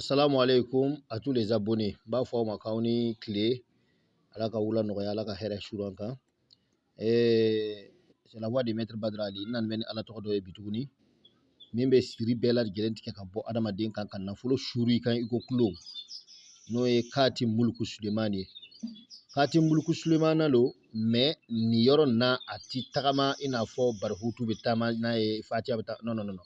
Assalamu alaikum à tous les abonnés. N b'a fɔ aw ma k'aw ni tile Ala ka wula nɔgɔya Ala ka hɛrɛ suuru an kan. Eh, c'est la voix de maître Badara Ali. N nana bɛ ni Ala tɔgɔ dɔ ye bi tuguni min bɛ siri bɛɛ lajɛlen tigɛ ka bɔ adamaden kan ka nafolo suuru i kan i ko kulo n'o ye Kati Muluku Sulemani ye. Kati Muluku Sulemana don mais nin yɔrɔ nin na a ti tagama i n'a fɔ Barihutu bɛ taama n'a ye Fatiya bɛ taa non non non non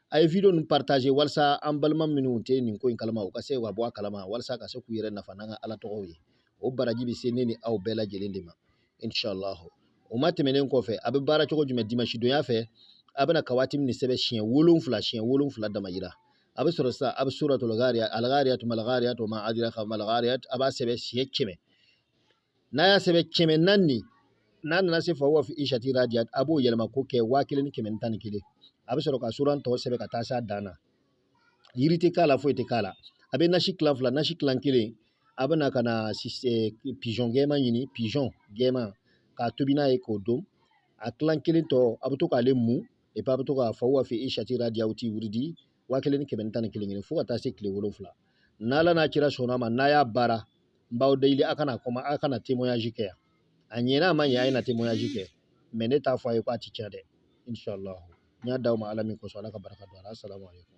a ye video ninnu partager walasa an balima minnu tɛ nin ko in kalama u ka se ka bɔ a kalama walasa ka se k'u yɛrɛ nafa n'an ka ala tɔgɔw ye o baraji bɛ se ne ni aw bɛɛ lajɛlen de ma inshallah o ma tɛmɛnen kɔfɛ a bɛ baara cogo jumɛn dimanche donya fɛ a bɛna kawatim nin sɛbɛn siɲɛ wolonwula siɲɛ wolonwula dama yira a bɛ sɔrɔ sa a bɛ suratul ghariyat al ghariyat mal ghariyat wa ma adraka mal ghariyat a b'a sɛbɛn siɲɛ kɛmɛ n'a y'a sɛbɛn kɛmɛ naani n'a nana se fa huwa fi ishati radiyat a b'o yɛlɛma k'o kɛ waa kelen ni kɛmɛ tan ni kelen a bɛ sɔrɔ ka suran tɔ sɛbɛn ka taa se dan na yiri tɛ k'a la foyi tɛ k'a la a bɛ nasi tilan fila nasi tilan kelen a bɛ na ka na pigeon gɛman ɲini pigeon gɛman k'a tobi n'a ye k'o dun a tilan kelen tɔ a bɛ to k'ale mu et puis a bɛ to ka fa huwa fi ishati radiyati wurudi waa kelen ni kɛmɛ tan ni kelen kelen fo ka taa se tile wolonwula n'Ala n'a kira sɔnna a ma n'a y'a baara n b'aw deli a ka na kuma a ka na témoignage kɛ yan a ɲɛna a ma ɲɛ a ye na témoignage kɛ mais ne t'a fɔ a ye ko a ti tiɲɛ dɛ inshallah n y'a d'aw ma ala min kosɔn ala ka barika don a la asalamu aleykum